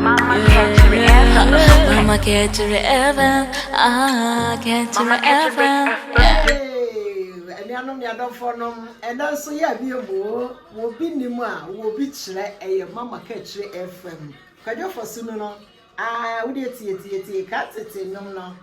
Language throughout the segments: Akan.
Mama kɛkyere ɛfɛm Mama kɛkyere ɛfɛm Ah kɛkyere ɛfɛm Anuanom ne adɔfoɔ nom ɛnɛ nso yɛ abie mu o wɔ obi nim a wɔ obi kyerɛ ɛyɛ Mama kɛkyere ɛfɛm kwadwofoɔ so nu no ah wode tie tie tie ka tete nom no.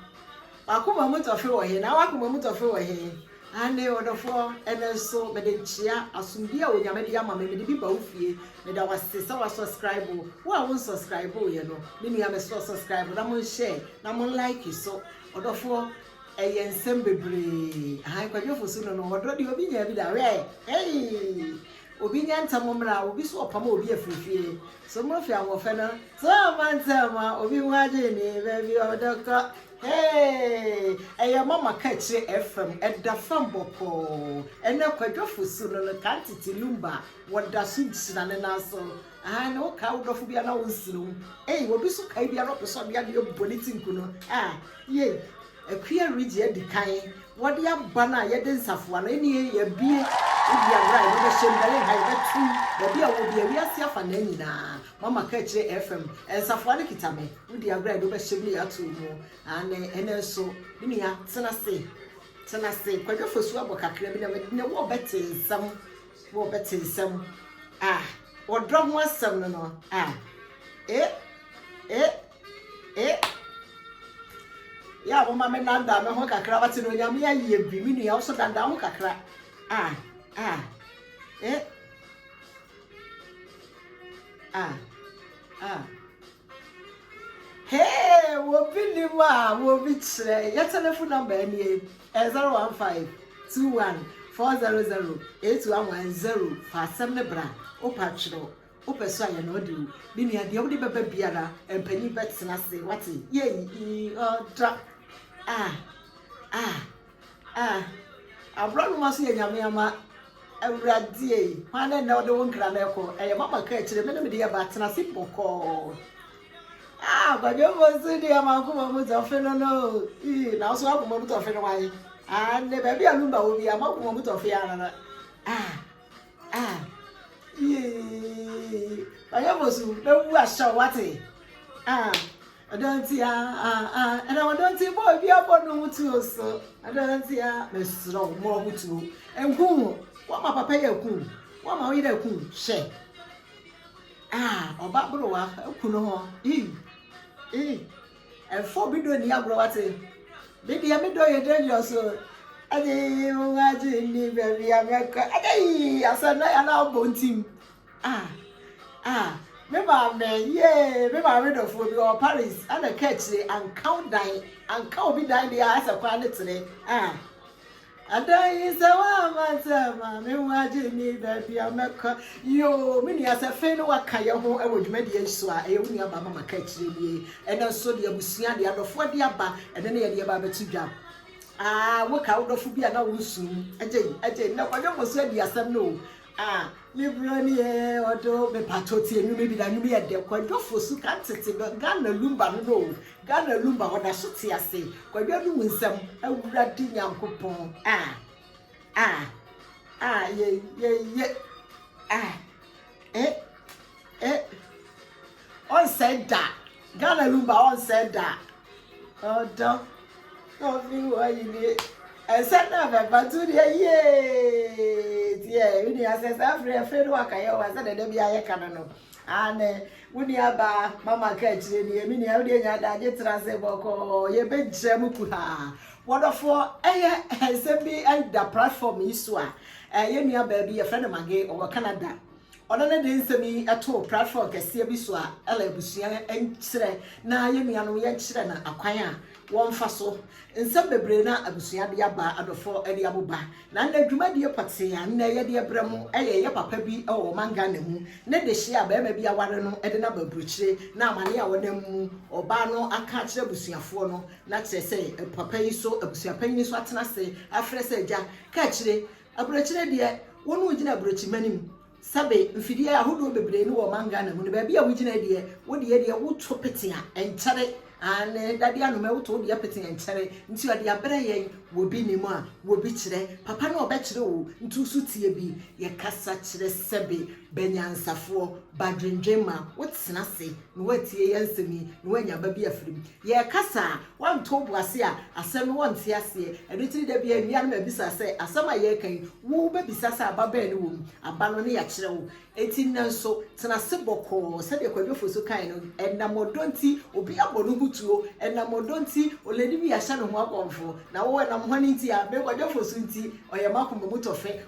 W'akoma mu tɔfe wɔ he? Naa w'akoma mu tɔfe wɔ he? Aane, ɔdɔfoɔ, ɛnnɛ nso mede nkyea, asomdwie a Onyame de ama me, mede bi ba wo fie. Meda wo ase sɛ w'asɔskraibo. Wo a wonsɔskraiboeɛ no, me nua me sɔ sɔskraibo na monhyɛɛ na monlaeke nso. Ɔdɔfoɔ, ɛyɛ nsɛm bebree. Ahan, Kwadwo Fosu no no, ɔdɔ deɛ obi nyaa bi da. Hwɛ! Heii! Obi nyɛ ntɛm mmra, obi nso ɔpam obi afiri fie. So mofi ahoɔfɛ no? So amma ntɛm a obi ho adwene ni? Baabi o, dɔktɔ. Hee! Ɛyɛ ma maka akyire ɛfam, ɛda fam bɔkɔɔ. Ɛnɛ Kwadwo Fosu no no, Tantiti Lumba, wɔda so gyina ne nan so. Aane, wokae wo dɔfo biara na wonserew. Ei, obi nso kae biara a ɔpɛ sɛ ɔde adeɛ bɔ ne ti nku no. Ah, yei. Akua redzi adi kan, wɔde aba no a yɛde nsafoa no, enie yɛabue ebia mmerɛ a yɛde bɛhyɛ mu, Berlin ha yɛbɛto mu, baabi a wowɔ biara, wiase afa naa nyinaa, mama ka akyire FM, nsafoa no kita me, wodi agorɔ a yɛde wobɛhyɛ mu na yɛato wo mu, aane, ɛnɛ nso, me nua, tena ase, tena ase, Kwadwo Afosu abɔ kakra bi na mede, nnɛ wo a wobɛte nsɛm, wo a wobɛte nsɛm, ah, ɔdɔ ho asɛm no no, ah, eh, eh. Eh? Yɛ a moma me nandaa me ho kakra wate no onyame ayɛ bi me nua wo so dandaa ho kakra. Ah, ah. Eh? Ah, ah. Hey, wobi ni mu a wobi kyerɛ yɛ telephone number nie eh, 015 21 400 8110 fa asɛm ne bra wopatwerɛ Wopɛ so a, yɛ no ɔde o. Me nua, deɛ wode bɛba biara, mpanin bɛtena ase, wate? Yei, ii, ɔdɔ, ah, ah, ah. Aborɔnoma nso yɛ Nyame ama. Awurade ei, hwan ne nnɛ wode wo nkra no rekɔ? Ɛyɛ mama ka akyire me ne mede yɛba, tena ase bɔkɔɔ. Ah, kwadwomfo nso deɛ m'akoma mu tɔfe no no, ii, na wo nso w'akoma mu tɔfe no wae. Ah, ne baabi a lumba wɔ biara, m'akoma mu tɔfe ara. Ah. Ah, yee. Ɔyɛ bosu bɛwu ahyɛ wo wate. Ah, ɔdɔ nti ah ah ah. Ɛna ɔdɔ nti bɔ obi abɔ no ho tuo so. Ɔdɔ nti ah mesrɛ wo mmɔ ho tuo. Nku ho. Wama papa yɛ ku. Wama wo yere ku. Hwɛ. Ah, ɔba borowa ku no ho. Ii. Ii. Ɛmfa obi dɔ nni agorɔ wate. Me deɛ me dɔ yɛ dangerous o Agyee wo ho agye nni baabi a mɛkɔ Agyee asɛm na yɛ na abɔ ntim Ah ah me maame yee me maame dɔfoɔ bi wɔ Paris ɛna ɛka akyire anka wo dan anka obi dan deɛ asɛ kwan ne tere Ah Adanyi sɛ w'ama sɛ maame ho agye me baabi a mɛkɔ yoo me nua sɛ fei no waka yɛ ho wɔ dwumadie yi so a ɛyɛ wo nua ba mama ka akyire nie ɛnɛ nso deɛ abusua deɛ adɔfoɔ de aba ɛnɛ ne yɛdeɛ ba bɛto dwa aa woka wo dɔfo bi a na wo nsuo mu agye agye na kwadwo mo nso adi asɛm no o aa Me bro ne yɛ ɔdɔ o Me pakyɛw tie nnwom yi bi na nnwom yi yɛ dɛ Kwadwo Fosu ka ntete no Ghana Lumba no no o Ghana Lumba wɔda so te ase Kwadwo anom nsɛm Awurade Nyankopɔn ah ah ah ye ye ye ah eh eh Ɔnsɛe da Ghana Lumba ɔnsɛe da Ɔdɔ na ɔfi hɔ ayi ne nsa na bɛba to deɛ yee deɛ wo nua sɛ saa afiri afiri no waka yɛ wa sɛ dɛdɛ bi ayɛ ka no no ane wo nua baa mama ka akyire ni ɛmi nua wodeɛ nya adagye tra sɛ bɔkɔɔ yɛbɛgyina mu ku haa wɔdɔfoɔ ɛyɛ nsɛm bi ɛda platform yi so a ɛyɛ nua baabi yɛfrɛ no mage ɔwɔ Canada Ɔno ne de nsɛm yi too platform kɛseɛ bi so a ɛla abusua nkyerɛ na yɛn nuanom yɛnkyerɛ no akwan a wɔmfa so. Nsɛm bebree na abusua de aba, adɔfoɔ de aboba, na nnɛ dwumadie pɔtee a nnɛ yɛde ɛbrɛ mo yɛ ɛyɛ papa bi wɔ ɔman Ghana mu ne dehyeɛ a barima bi aware no de no aba aburokyire na amane a ɔnam mu ɔbaa no aka akyerɛ abusuafoɔ no na kyerɛ sɛ papa yi so abusuapanyini so atena ase afrɛ sɛ agya kaakyire Aburokyire deɛ, wo ne wogyina aburokyima no mu. Sɛbe, mfidie ahodoɔ bebree no wɔ ɔman Ghana mu no, baabi a wogyina deɛ, wo deɛ deɛ woto pete a, ɛnkyɛre. Aane, dadeɛ anɔmɛ woto wo deɛ pete a, ɛnkyɛre. Nti ɔde abrɛ yɛn, wobi nim a, wobi kyerɛ. Papa na ɔbɛkyerɛ oo, nti wo so tie bi. Yɛkasa kyerɛ sɛbe, bɛ nyansafoɔ, ba dwendwen ma, wotena ase na woatie yɛn nsɛm yi, na woanya aba bi afiri mu. Yɛrekasa a, wɔnto wo bo ase a, asɛm no wɔnte aseɛ. Ɛno nti no da biara nnua no mabisa sɛ, asɛm a yɛreka yi, wobɛbisa sɛ aba bɛn ne wɔ mu? Aba no ne yɛakyerɛ wo. Enti nnɛ nso, tena ase bɔkɔɔ. Sɛdeɛ Kwadu Ofosu kaeɛ no, ɛnam ɔdɔ nti, obi abɔ ne ho tuo. Ɛnam ɔdɔ nti, olɛni bi ahyɛ ne ho akɔmfo. Na wo, ɛnam hwan nti a? Me, Kwadu Ofosu nti, ɔyɛ m'akoma mu tɔfɛ.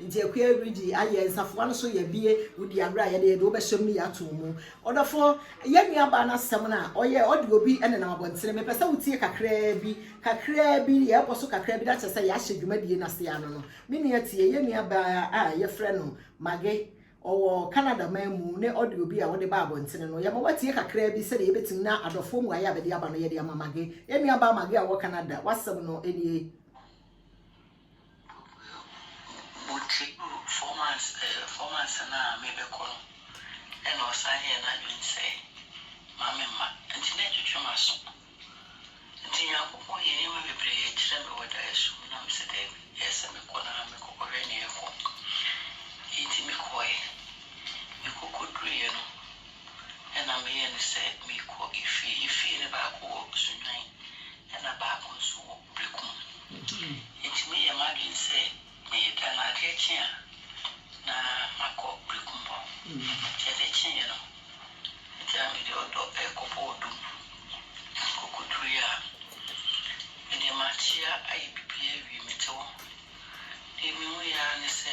Nti akuaa redi ayɛ nsafoa no so yɛbie wodi aberɛ a yɛde yɛde wo bɛhyɛm no yɛ atom mu ɔdɔfo yɛ nua baa no asɛm no a ɔyɛ ɔde obi nenam abɔntene mepɛ sɛ wo tie kakraa bi kakraa bi yɛɛkɔ so kakraa bi na kyerɛ sɛ yɛahyɛ dwumadie no aseɛ ano no me nua tie yɛ nua baa a yɛfrɛ no Mage ɔwɔ Canada man mu ne ɔde obi a ɔde baa abɔntene no yɛma watie kakraa bi sɛdeɛ yɛbɛtumi na adɔfoɔ mu ayɛ a bɛde aba no yɛde ama Mage yɛ nua baa Mage a ɔwɔ Canada wasɛm no nie. Botire four months eh four months no a mebɛkɔ no ɛna ɔsan yɛɛ n'adwene sɛ ma me mma nti na ɛtwetwe m'aso nti Nyankopɔn yɛ nneɛma bebree kyerɛ me wɔ daeɛso mu na mesɛ daabi ɛyɛ sɛ mekɔ na mekɔkɔhwɛ nea ɛrekɔ nti mekɔɛ mekɔ kɔduruiɛ no ɛna meyɛ no sɛ mekɔ efie efie no baako wɔ Sunyani ɛna baako nso wɔ Bere ko no, metumi yɛ m'adwene sɛ meyɛ dɛn na adeɛ kye a, na makɔ berekumbɔ. Nti adeɛ kyeeɛ no, agyaa me de ɔdɔ rekɔbɔ ɔdɔ mu. Nti kɔkɔduruiɛ a, medeɛ makyea ayɛ biribiara awie, mete hɔ. Deɛ mehuiɛ ara ne sɛ,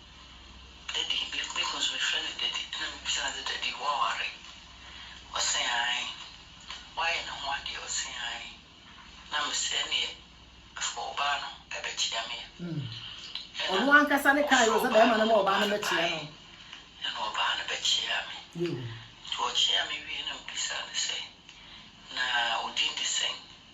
Daddy, biribi bɛkɔ nso mefrɛɛ no daddy na mebisaa no sɛ daddy woaware? Ɔse aane. Woayɛ ne ho adeɛ? Ɔse aane. Na mese ɛneɛ fa ɔbaa no bɛkyea me a. Ɛna ɔfrɛɛ ɔbaa no ma ɔbaa no baeɛ ɛna ɔbaa no bɛkyeaa me. Nti ɔkyeaa me wieeɛ na mebisaa no sɛ na wo din de sɛn?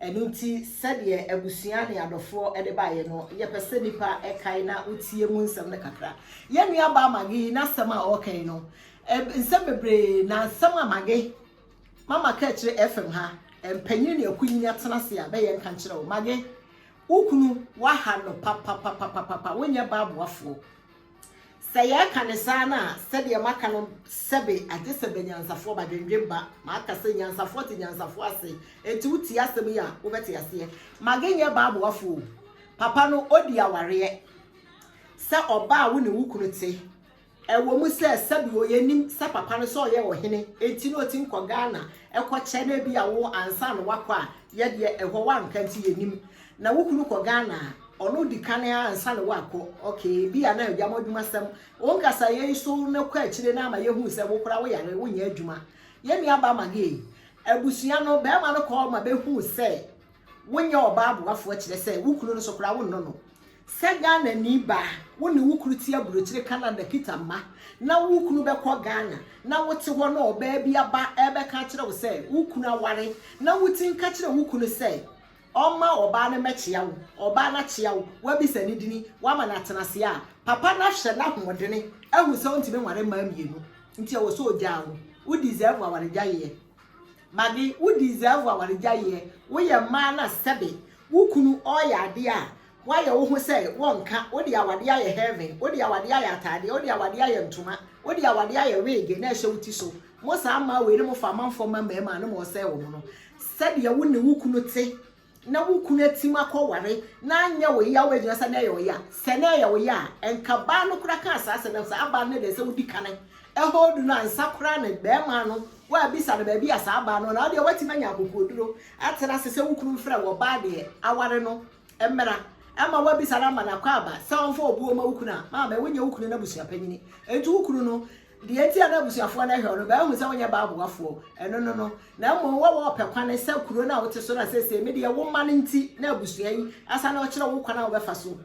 Ɛno nti, sɛdeɛ abusua ne adɔfoɔ de baeɛ no, yɛpɛ sɛ nnipa kae na wotie mu nsɛm no kakra. Yɛn nuabaa Maggie yi n'asɛm a ɔreka yi no, nsɛm bebree na nsɛm a Maggie mama ka akyire FM ha, mpanyini ne akunyini atena ase a bɛyɛ nka nkyerɛ wo. Maggie, wo kunu waha no papapapapapa, wonyɛ baa boafoɔ. Sɛ yɛka no saa no a, sɛdeɛ maka no sɛbe agye sɛ bɛnyansafoɔ ba dwendwen ba, maka sɛ nyansafoɔ te nyansafoɔ ase, enti wo tie asɛm yi a wo bɛte aseɛ. Maggie nyɛ baa boafo o, papa no ɔdi awareɛ sɛ ɔbaa a wo ne wo kunu te, ɛwɔ mu sɛ sɛbe o yɛnim sɛ papa no sɛ ɔyɛ ɔhene enti na ɔtim kɔ Ghana kɔ kyɛ na ebia wo ansa na wakɔ a yɛdeɛ ɛhɔ wanka nti yɛnim, Na wo kunu kɔ Ghana a, ɔno di kan ara ansa na woakɔ. Okay, ebia na agya mo adwumasɛm. Wo nkasayɛ yi so na kɔ akyire no ama yɛhuu sɛ wo koraa woyare, wonyɛ adwuma. Yɛn nuabaa Maggie, abusua no, barima no kɔɔ ma bɛhuu sɛ wonyɛ ɔbaa boafoɔ kyerɛ sɛ, wo kunu no so koraa wonnɔ no. Sɛ Ghanani ba, wo ne wo kunu te aburokyire Canada kita mma, na wo kunu bɛkɔ Ghana, na wote hɔ na ɔbaa bi aba rebɛka akyerɛ wo sɛ wo kunu aware, na wotumi ka kyerɛ wo kunu sɛ, ɔmma ɔbaa no mmɛkyea wo, ɔbaa no akyea wo, woabisa ne dini, woama no atenaseɛ a, papa no ahwɛ n'ahoɔdene ahu sɛ ɔntumi nware mmaa mmienu nti ɛwɔ sɛ ɔgyaa wo. Wo deserve awaregyaeɛ. Maggie, wo deserve awaregyaeɛ. Woyɛ mmaa no a sɛbe wo kunu ɔreyɛ adeɛ a Woayɛ wo ho sɛ wonka, wode awadeɛ ayɛ heaven, wode awadeɛ ayɛ ataadeɛ, wode awadeɛ ayɛ ntoma, wode awadeɛ ayɛ weege na ɛhyɛ wo ti so. Mo saa mmaa wei ne mo fa amanfoɔ ma mmarima a ne mo ɔsɛe wɔn no. Sɛdeɛ wo ne wo kunu te na wo kunu atim akɔ ware na anyɛ wo ya woagyina sɛ na ɛyɛ ɔya. Sɛ na ɛyɛ ɔya a, ɛnka baa no koraa kaa saa asɛm no, saa baa no na ɛdɛ sɛ wodi kane ɛhold no ansa koraa na barima no woabisa no baabi a saa baa no wɔ na wodeɛ woatim anya akokoɔduro atena ase sɛ wo kunu mfrɛ wo ɔbaa deɛ aware no. Mmra, ɛma woabisa no ama no akwaaba sɛ ɔmfa obuo ma wo kunu a, maame, wonyɛ wo kunu no abusua panyini. Enti wo kunu no, deɛ enti a na abusuafoɔ no hwɛ wo no, bɛahu sɛ wonyɛ baa boafoɔ, ɛno no no, na mmom woawɔ ɔpɛ kwan sɛ kuro no a wote so no a seesei me deɛ wo mma no nti na abusua yi asa no, ɔkyerɛ wo kwan a wobɛfa so.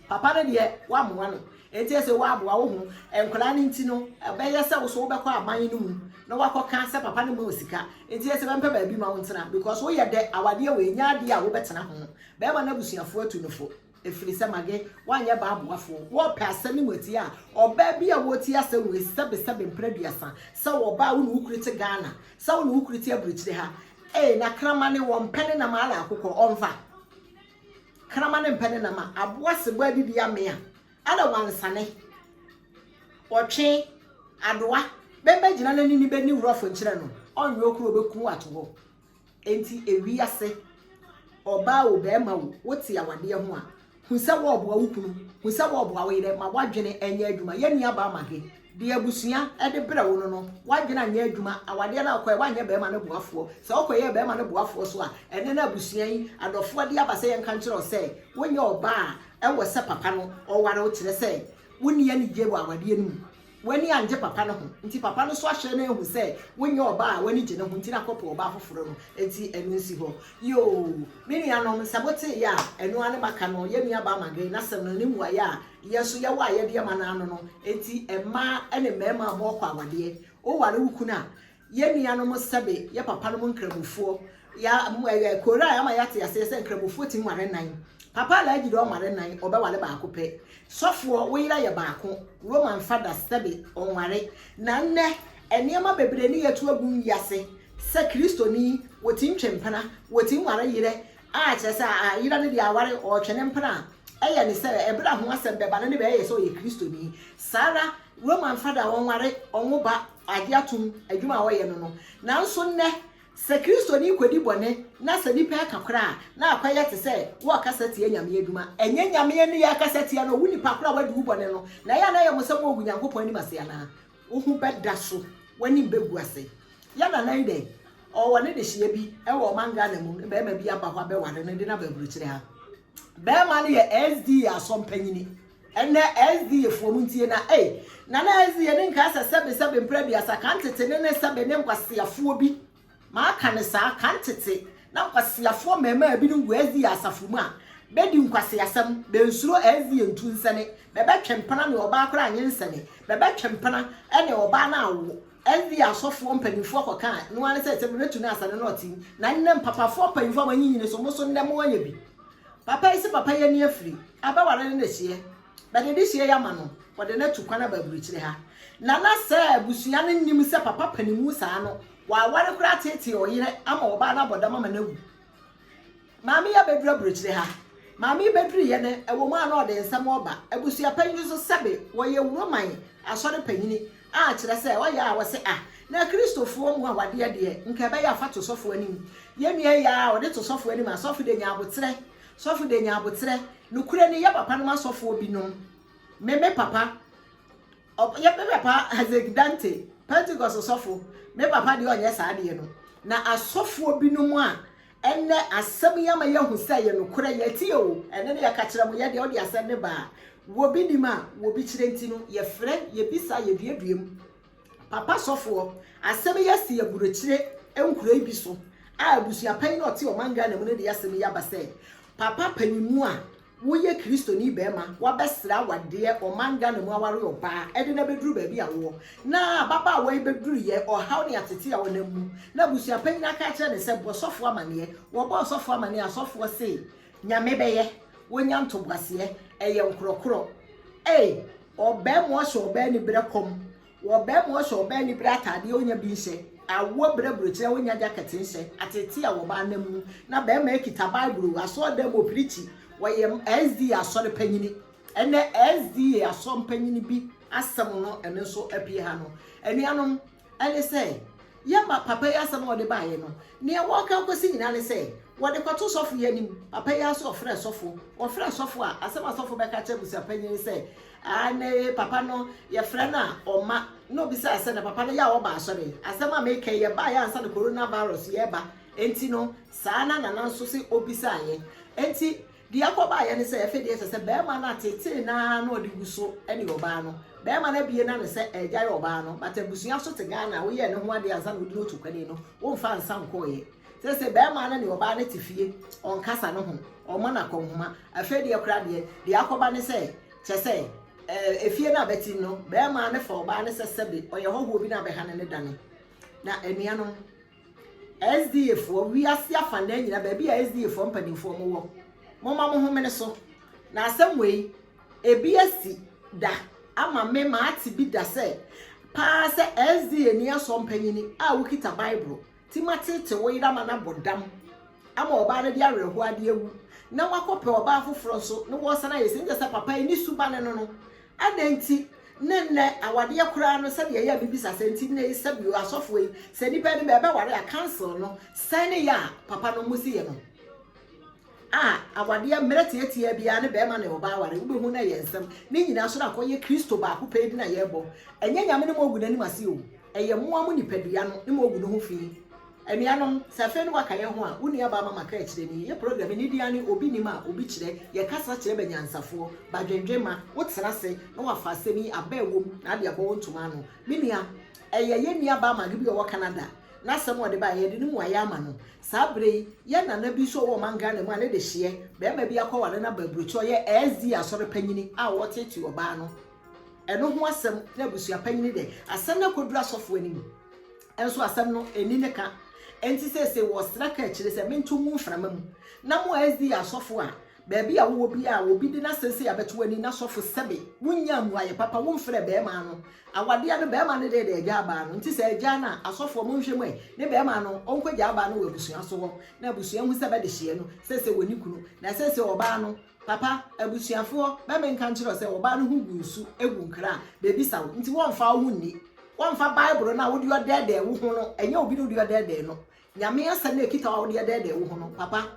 Papa no deɛ woamoa no nti ɛsɛ woaboa wo ho nkwadaa no nti no ɛbɛyɛ sɛ woso wobɛkɔ aban no mu na wakɔka sɛ papa no ma wo sika nti ɛsɛ bɛmpɛ baabi ma wo ntena because woyɛ dɛ awadeɛ wei nyɛ adeɛ a wobɛtena ho bɛrima no abusuafoɔ atu no fo ɛfiri sɛ mage woanyɛ baa aboafoɔ wɔpɛ asɛm no mu atie a ɔbaa bi a wɔti asɛm wei sɛbesɛbe mpena aduasa sɛ wɔbaa wo ne wo kuru te Ghana sɛ wo ne wo kuru te abirikyire ha ee na kramane wɔmpɛ ne nam ala akokɔ ɔmfa Kraman ne mpɛ ne nam a aboa sebɔ adidi amea na wansane, ɔtwe, adoa, bɛmɛ gyina na nini bɛni wurɔfo nkyerɛ no, ɔnwe okuru ɔbɛku ato hɔ. Enti ewiase, ɔbaa o, bɛɛma o, wote awadeɛ ho a, hu sɛ wɔɔboa wo kunu, hu sɛ wɔɔboa wo yerɛ, ma woadwene nyɛ adwuma. Yɛn nuabaa Maggie. Deɛ abusua de brɛ wo no no, w'adwene anyɛ adwuma. Awadeɛ no a wokɔeɛ, woanyɛ barima no boafoɔ. Sɛ wokɔyɛɛ barima no boafoɔ so a, ɛnnɛ na abusua yi adɔfoɔ de aba sɛ yɛnka nkyerɛ wo sɛ wonyɛ ɔbaa a ɛwɔ sɛ papa no ɔware wo, kyerɛ sɛ, wonni anigyeɛ wɔ awadeɛ no mu. W'ani annye papa no ho nti, papa no nso ahwɛ na ahu sɛ wonyɛ ɔbaa a w'ani gye ne ho nti na kɔpɛ ɔbaa foforɔ no. Enti ɛno nsi hɔ. Yoo, me nuanom, sɛ moteeɛ a, ɛno ara ne maka no, yɛn nuabaa Margae n'asɛm no, ne mmuaeɛ a Yɛ so yɛ wo a yɛ deɛ ma no ano no nti mmaa ɛne mmarima bɔ kɔ awadeɛ wo ware wo kunu a yɛ nua nom sɛbe yɛ papa nom nkramofoɔ ya ɛɛ koraa ama yɛ ate aseɛ sɛ nkramofoɔ tim ware nan papa alaaji dɛ ɔmare nan ɔbɛ ware baako pɛ sɔfoɔ wo yera yɛ baako roman fada sɛbe ɔnware na nnɛ nneɛma bebree ne yɛ to agu wiase sɛ kristoni wɔ tim twe mpena wɔ tim ware yerɛ A kyerɛ sɛ a yera no deɛ aware, ɔretwɛn ne mpena a, ɛyɛ ne sɛ ɛberɛ a ho asɛm bɛba no ne bɛyɛ yɛ sɛ ɔyɛ Kristoni. Saa ara, Roma mfa da ɔnware, ɔnwo ba, agye atom, adwuma a ɔyɛ no no. Nanso nnɛ, sɛ Kristoni rekɔdi bɔne na sɛ nnipa reka koraa a, na akɔyɛ te sɛ wɔrekasa tia Nyame adwuma. Ɛnyɛ Nyame ne yɛrekasa tia no, wo nnipa korɔ a wadi wo bɔne no, na ɛyɛ a na ɛyɛ mo sɛ moagu Nyankopɔn anim ase anaa? Wo ho bɛda so, w'anim bɛgu ase. Yɛn nana yi dɛn? Ɔwɔ ne dehyeɛ bi wɔ ɔman Ghana mu, ne barima bi aba hɔ abɛware no, de no aba aburokyire ha. Barima no yɛ SDA asɔmpanyini. Ɛnɛ SDA foɔ mu ntie na ei, nana SDA ne nka sɛ sɛbe sɛbe mprɛ aduasa, ka ntete ne ne sɛbe ne nkwaseafoɔ bi Maka no saa, kan tete, na nkwaseafoɔ mmarimaa binom gu Asia asafo mu a, bɛdi nkwaseasɛm, bɛnsuro Asia ntunsɛne, bɛbɛtwe mpena ne ɔbaa koraa nyɛ nsɛne, bɛbɛtwe mpena ne ɔbaa no awo, Asia asɔfoɔ mpanimfoɔ kɔkaa, ɛno ara ne sɛ, sɛ mobɛtu no a, sɛne no ɔte, na nnɛ mpapafoɔ mpanyimfoɔ a wɔanyinyini so, mo nso nnɛ moayɛ bi. Papa yi se papa yi ani afiri, abɛware no na ɛhyeɛ. But adesua yi ama no wɔde no atu kwan aba aburukyire ha. Na na sɛ abusua no nnim sɛ papa panimu saa no, waware koraa ateetee ɔyere ama ɔbaa no abɔ dam ama no awu. Maame yi abɛduru aburukyire ha. Maame yi bɛduruiɛ no, ɛwɔ mu a na ɔde nsɛm reba. Abusua panyin nso sɛbe wɔyɛ Roman asɔre panyin a kyerɛ sɛ ɔyɛ a wɔse ah, na Kristofoɔ mu awadeɛ deɛ nka ɛbɛyɛ a fa to sɔfoɔ anim. Yɛn nua yi yɛ a ɔde to sɔfoɔ anim, asɔfo deɛ nya aboterɛ Sɔfo de nya aboterɛ. Nokorɛ ni, yɛ papa nom asɔfoɔ bi nom. Me me papa, ɔb, yɛ me papa Hazeg Dante, Pentecost ɔsɔfo, me papa deɛ ɔnyɛ saa adeɛ no. Na asɔfoɔ bi nom a, ɛnnɛ asɛm yi ama yɛahu sɛ ɛyɛ nokorɛ, yɛte o, ɛne no yɛka kyerɛ mo, yɛ deɛ ɔde asɛm no ba a, wɔ bi nim a, wɔ bi kyerɛ nti no, yɛfrɛ, yɛbisa, yɛduadua mu. Papa sɔfoɔ, asɛm yi asi aburokyire nkuroyi bi so a abusua panyin a ɔte ɔman Ghana mu no de asɛm yi aba sɛ, Papa panyinmu a woyɛ Kristoni barima, woabɛsrɛ awadeɛ ɔman Ghana mu aware ɔbaa ɛde no abɛduru baabi a woɔ na ababaawa yi bɛduruiɛ, ɔhaw ne atete a ɔnam mu na abusua panyin aka akyerɛ no sɛ bɔ sɔfoɔ amaneɛ, wɔbɔɔ sɔfoɔ amaneɛ a sɔfoɔ se Nyame bɛyɛ, wonya ntoboaseɛ, ɛyɛ nkorɔkorɔ. Ei! Ɔbaa mu ɔsɛ ɔbaa ni berɛ kɔm Ɔbaa mu ɔsɛ ɔbaa ni berɛ ataadeɛ ɔnya bi nsɛ Awoɔ berɛ burokyerɛ ɔnya gyakɛte nsɛ Atete a wɔbaa nam mu na barima ɛkita Bible o Asɔɔdan mu ɔpirikyi ɔyɛ SDA asɔre panyini Ɛnɛ SDA asɔre panyini bi asɛm no ɛno nso apue ha no Anuanom Ɛne sɛ, yɛ ma papa yi asɛm a ɔde baeɛ no, deɛ wɔreka akɔsi nyinaa ne sɛ, wɔde kɔto sɔfo yi anim. Papa yi ara nso ɔfrɛɛ sɔfo. Wɔfrɛɛ sɔfo a, asɛm a sɔfo bɛka akyerɛ abusuapanyin ne sɛ, Ah, nnɛ yi papa no, yɛfrɛ no a, ɔmma. Na obisaa sɛ, Na papa no yɛ a ɔba asɔre? Asɛm a mereka yi, ɛbaeɛ ansa na coronavirus reba. Enti no, saa na Nana nso se ɔbisaaeɛ. Enti, Deɛ ɛkɔ baeɛ ne sɛ, ɛfedeɛ ɛsɛ sɛ barima no ateetee no ara na ɔde gu so ne ɔbaa no. Barima no abue n'ano sɛ ɛregyae ɔbaa no, but abusua so te Ghana a woyɛɛ ne ho adeɛ ansa na wode no to kwane no, womfaa nsa nkɔeɛ. Seesei barima no ne ɔbaa no te fie, ɔnkasa ne ho, ɔmmɔ no akɔnhoma. Afei deɛ koraa deɛ, deɛ akɔba ne sɛ, kyerɛ sɛ, ɛɛ, efie no a bɛte mu no, barima no fa ɔbaa no sɛ sɛbe ɔyɛ hɔhoɔ bi na abɛha no ne dane. Na anuanom. SDAfoɔ, wiase afanaa nyinaa, baabi a SDAfoɔ mpanimfoɔ mo wɔ, momma mo homene so. Na asɛm wei, ebi asi da ama me ma ate bi da sɛ paa sɛ SDA ni asɔ mpanyini a wokita Bible ti ma tete wo yere ama no abɔ dam ama ɔbaa no de awerɛhoɔ ade awu na wakɔpɛ ɔbaa foforɔ nso na wɔsan ayɛ sɛ nkyɛ sɛ papa yi ne suba ne no no Adɛn nti ne nnɛ awadeɛ koraa no sɛdeɛ ɛyɛ a mebisa saa nti nnɛ yi sɛbi o asɔfoɔ yi sɛ nipa no bɛ bɛware a council no sɛn ne yɛ a papa no mo si yɛ no a awadeɛ mmerɛ tiatiaa biara ne bɛrima ne ɔbaa aware wobɛhu no ɛyɛ nsɛm ne nyinaa so no akɔyɛ kristo baako pɛ yi na yɛbɔ ɛnyɛ nyame ne mo agu n'anim ase o ɛyɛ mo a mo nipadua no ne mo agu no ho fii Anuanom, sɛ afei ne waka yɛn ho a, wo nuabaa Mama kaa akyire ni, Yɛ program yi, ne dea ne obi nim a obi kyerɛ, yɛ kasa kyerɛ banyansafoɔ, badwendwen ma, wo tena ase na wafa asɛm yi aba a ɛwom na ade abɔ wo ntoma ano. Me nua, ɛyɛ yɛn nuabaa Maggie bi a ɔwɔ Canada na asɛm a ɔde baeɛ, yɛde ne mmuaeɛ ama no. Saa berɛ yi, yɛn nana bi nso a ɔwɔ ɔman Ghana mu a ne de hyeɛ, barima bi akɔware no aba aburokyire, ɔyɛ SDA asɔre panyini a ɔreteetee ɔbaa no, ɛno ho asɛm na abusua panyini dɛ, asɛm no akɔduru asɔfoɔ anim. Nso asɛm no nni ne ka. Enti seesei wɔsra kaakyire sɛ mento ngu mframa mu, na mo a SDA asɔfo a, baabi a wowɔ biara a obi de n'asɛm sei abɛto w'ani na sɔfo sɛbe wonyaa mmuaeɛ papa womfrɛɛ bɛɛmaa no awadeɛ no bɛɛmaa no deɛ de agyaa baa no nti sɛ agyaa no a asɔfoɔ monhwɛ mu ɛ ne bɛɛmaa no ɔnkɔgyaa baa no wɔ abusua so hɔ na abusua hu sɛ bɛdehyeɛ no seesei wɔnni kunu na seesei ɔbaa no Papa, abusuafoɔ bɛ me nka nkyerɛ wo sɛ ɔbaa no ho gu nsu gu nkra a bebisa wo nti wɔmfa wo ho nni. Wɔmfa Bible no a wode ɔdɛɛdɛɛ wo ho no nyɛ obi na wode ɔdɛɛdɛɛ no. Nyame asɛm no a ɛkita wo a wode ɛdɛɛdɛɛ wo ho no, papa,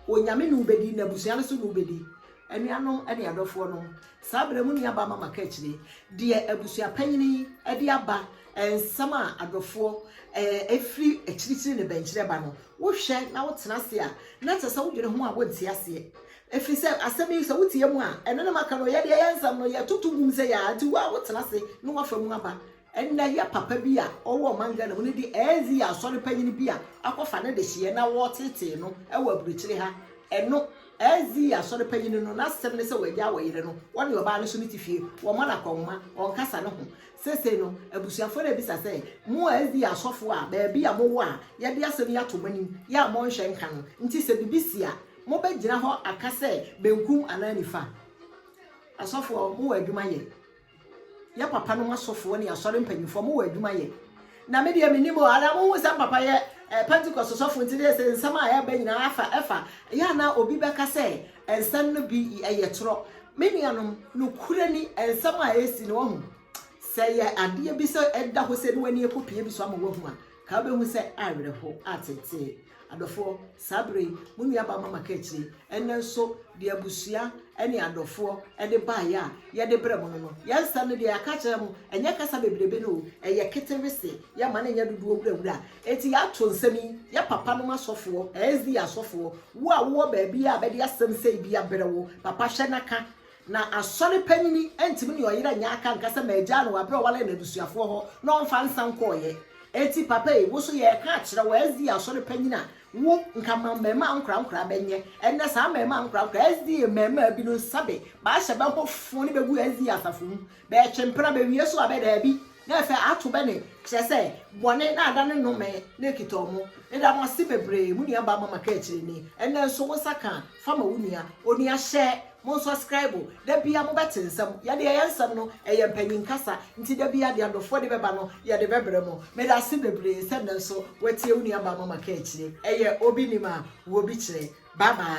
Onyame ne wo bɛdi na abusua no nso ne wo bɛdi. Anuanom ne adɔfoɔ nom, saa berɛ mu nuabaa Mama ka akyire deɛ abusua panyin yi de aba nsɛm a adɔfoɔ ɛfiri akyirikyiri ne bɛnkyerɛ ba no. Wohwɛ na wotena ase a na kyerɛ sɛ wodwene ho a wonte aseɛ. Efisɛ asɛm yi, sɛ wote yɛn mu a, ɛno na maka no, yɛde yɛn nsɛm no, yɛtoto gum sɛ yɛn ara nti, wo a wotena ase na woafa mu aba. Ɛnnɛ, yɛ papa bi a ɔwɔ ɔman Ghana mu no de ANC yɛ asɔre panyin bi a akɔfa ne dehyeɛ na wɔreteetee no wɔ aburokyire ha. Ɛno, ANC asɔre panyin no, n'asɛm ne sɛ wagyaa ɔyere no, ɔne ɔbaa no so no te fie, wɔma no akɔnhoma, ɔnkasa ne ho. Seesei no, abusuafoɔ no rebisa sɛ, Mo ANC asɔfoɔ a baabi a mowɔ a yɛde asɛm yi ato mo anim yi a moanhwɛ nka no nti, sɛ biribi si a, Mobɛgyina hɔ aka sɛ benkum anaa nifa? Asɔfoɔ, mowɔ adwuma yɛ. Yɛ papa nom asɔfoɔ ne asɔre mpanimfoɔ, mowɔ adwuma yɛ. Na me deɛ mennim o, anaa monhu sɛ papa yɛ eh, Pentecost sɔfo nti deɛ sɛ nsɛm a ɛreba nyinaa afa ɛfa. Yɛ ana obi bɛka sɛ nsɛm no bi ɛyɛ torɔ? Me nuanom, nokorɛ ni, nsɛm a ɛresi no, wahu, sɛ ɛyɛ adeɛ bi sɛ ɛda hɔ sɛ na w'ani ɛkɔpue bi so ama woahu a, Ka wobɛhu sɛ awerɛhow ateetee. Adɔfoɔ, saa berɛ yi, mo nuabaa Mama ka akyire, ɛnnɛ nso, deɛ abusua ne adɔfoɔ de baeɛ a yɛde brɛ mo no no, yɛn nsɛm no deɛ yɛaka akyerɛ mo, ɛnyɛ kasa bebrebe no o, ɛyɛ ketewee se, yɛmma no nyɛ dodoɔ wurawura. Enti yɛato nsɛm yi, yɛn papanom asɔfoɔ, SDA asɔfoɔ, wo a wowɔ baabiara a bɛde asɛm sei bi abrɛ wo, papa hwɛ na ka, Na asɔre panyin antumi ne ɔyere anyɛ aka anka sɛ magyaa no wɔ bere a ɔwaree no abusuafoɔ hɔ na ɔmfa nsa nkɔeɛ. Enti papa ei, wo nso yɛreka akyerɛ wo, SDA asɔre panyin a wo nka ma mmarimaa nkorankoraa bɛnyɛ. Ɛnnɛ saa mmarimaa nkorankoraa SDA mmarimaa bi no nsa bɛ bɛahyɛ bɛ ho fo ne bɛgu SDA asafo mu. Bɛretwe mpena, bɛwie so a bɛ daabi. Na ɛfɛ ato bɛ ne, kyerɛ sɛ, bɔne, na ada ne nnome, na ekita ɔmo. Eda mo ase bebree, mo nua baa ma ma kaa akyire ni. Ɛnnɛ nso, wo nsa kaa, fa ma wo nua. Onua, hyɛ, mo nsɔskraibo. Da biara mo bɛ te nsɛm. Yɛde yɛyɛ nsɛm no, ɛyɛ mpanyin kasa. Nti da biara deɛ adɔfoɔ de bɛ ba no, yɛde bɛ brɛ mo. Meda ase bebree sɛ nnɛ nso, woatie wo nua baa ma ma kaa akyire. Ɛyɛ, obi nim a, wɔ bi kyerɛ. Bye bye.